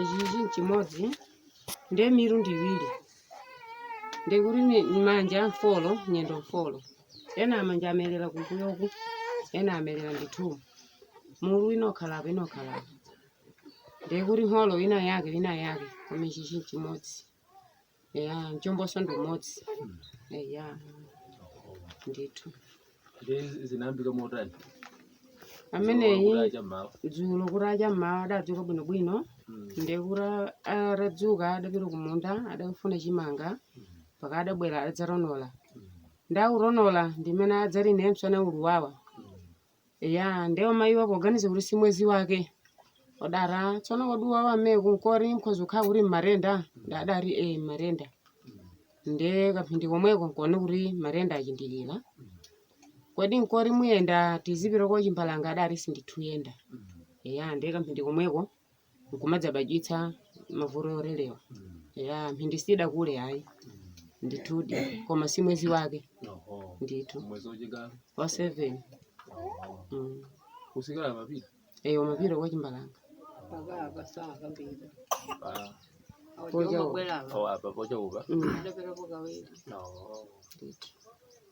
ichichi nchimodzi nde mitu ndi iwiri nde kuti ni ni manja mfolo nyendo mfolo ena manja amelera kumbuyoku ena amelera ndithumu mutu inakhalapa inakhalapa nde kuti nholo ina yake ina yake koma ichichi nchimodzi ya mchombonso ndi umodzi ya ndithu ndi zinayambika motani ameneyi cha mmawa dzulo kutacha mmawa adadzuka bwinobwino Mm. nde kuti atadzuka adapita kumunda adafuna chimanga mpaka adabwera adzatonola ndi kutonola ndimene adzati ine msana uluwawa eya nde amayiwa poganiza kuti si mwezi wake odati tsono kodi uwawa ameneku nkuti mkhoza kukhala kuti mmatenda nde adati e mmatenda nde kamphindi komweko nkuona kuti matenda achindikira kodi nkuti muyenda tizipita kwa Chimbalanga adati sinditha uyenda eya nde kamphindi komweko nkumadzabadwitsa mavuto oterewa ya mphindi sidakule ayi ndithudi koma si mwezi wake Oho. ndithu Mwezi wachinga. wa seven mm. Kusikelo amapita. eya amapita kwa Chimbalanga Oho, apa pocha uba. Mm. Oho. ndithu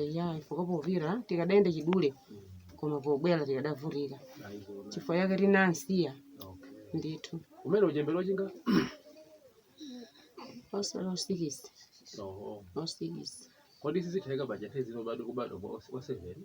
eya chifukwa popita tikadayenda chidule koma pobwera tikadavutika chifukwa chake tinansiya ndithu umene uchembere wachinga onse osikisi osikisi kodi sizitheka bajete zino bado kubadwa kwa oseveni